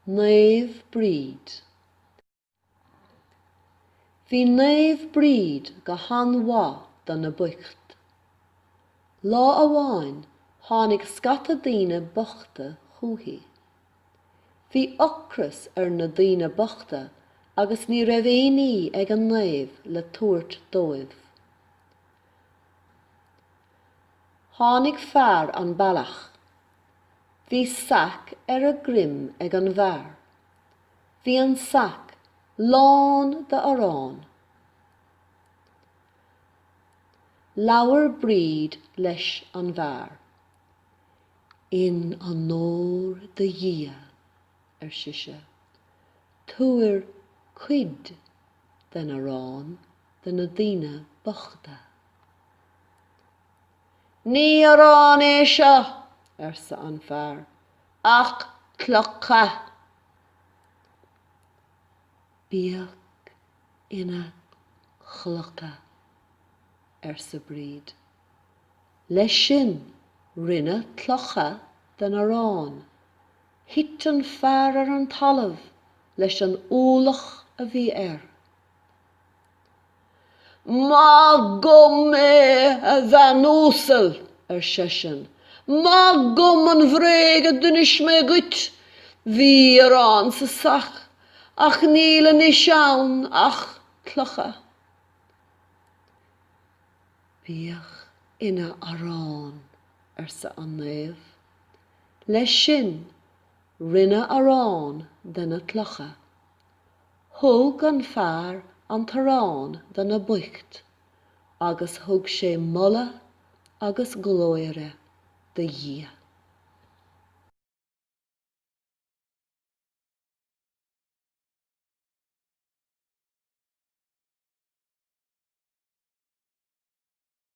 Naomh Bríd. Bhí Naomh Bríd go han mhaith do na boicht. Lá amháin tháinig scata daoine bochta chuici. Bhí ocras ar na daoine bochta agus ní raibh aonní ag an Naomh le tabhairt dóibh. Tháinig fear an bealach. Bhí sac ar a dhroim ag an bhfear. Bhí an sac lán de arán. Labhair Bríd leis an bhfear. In onóir do Dhia, ar sise, tabhair cuid den arán do na daoine bochta. Ní arán é seo, arsa an fear, ach clocha. Bíodh ina chlocha, arsa Bríd. Leis sin rinneadh clocha den arán. Thit an fear ar an talamh leis an ualach a bhí air. Maith dhom é, a bhean uasal, ar seisean, maith dhom an bhréag a d'inis mé dhuit. Bhí arán sa sac, ach níl anois ann ach clocha. Bíodh ina arán, arsa an naomh. Leis sin, rinneadh arán de na clocha. Thug an fear an t-arán do na boicht agus thug sé moladh agus glóire do Dhia.